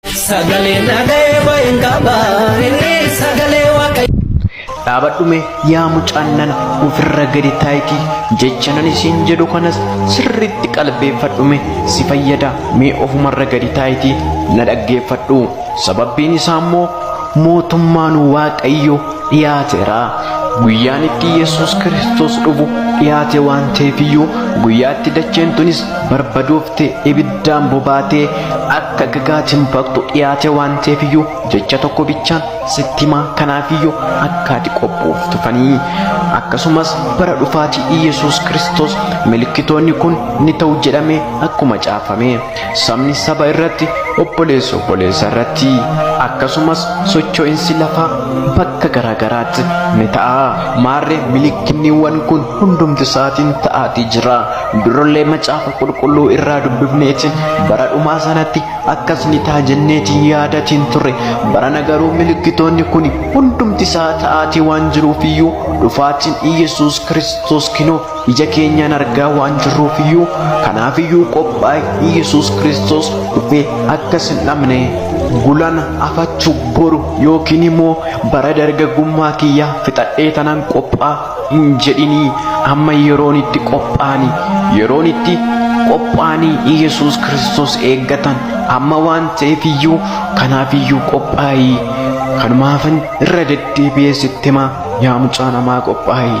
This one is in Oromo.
Sagalee nagee bahin qaba inni sagalee waaqayyo. dhaabadhume yaa mucaannan ofirra gadi taayiti jecha nan isiin jedhu kanas sirriitti qalbeeffadhume si fayyada mee ofumarra gadi taayiti na dhaggeeffadhu sababbiin isaa immoo mootummaan waaqayyo dhiyaateera guyyaan itti yesus kiristoos dhufu dhiyaate waan ta'eefiyyuu guyyaatti dacheen tunis barbaduuf irratti ibiddaan bobaatee akka gagaatiin baqxu dhiyaate waan ta'eefiyyuu jecha tokko bichaan sitti himaa kanaafiyyuu akka ati qophooftu fanii akkasumas bara dhufaatii Iyyasuus Kiristoos milkitoonni kun ni ta'u jedhamee akkuma caafame sabni saba irratti obboleessi obboleessa irratti akkasumas socho'insi lafaa bakka garaagaraatti ni ta'a maarree milikkinniiwwan kun hundumti isaatiin ta'aatii jira Durallee macaafa qulqulluu irraa dubbifneetiin bara dhumaa sanatti akkas ni ta'a jenneetiin yaadatiin turre barana garuu milikkitoonni kun hundumti isaa ta'aatii waan jiruufiyyuu dhufaatiin Iyyasuus Kiristoos kinoo ija keenyaan argaa waan jirruufiyyuu kanaafiyyuu qophaa'e Iyyasuus Kiristoos dhufee akkas hin dhabne gulan afachu boru yookiin immoo bara dargaggummaa kiyyaa fixadhee tanan qophaa hin jedhinii amma yeroon itti qophaa'anii yeroon itti qophaa'anii Yesuus Kiristoos eeggatan amma waan ta'eef iyyuu kanaaf iyyuu qophaa'ii kanumaafan irra deddeebi'ee sitti himaa yaa mucaa namaa qophaa'ii.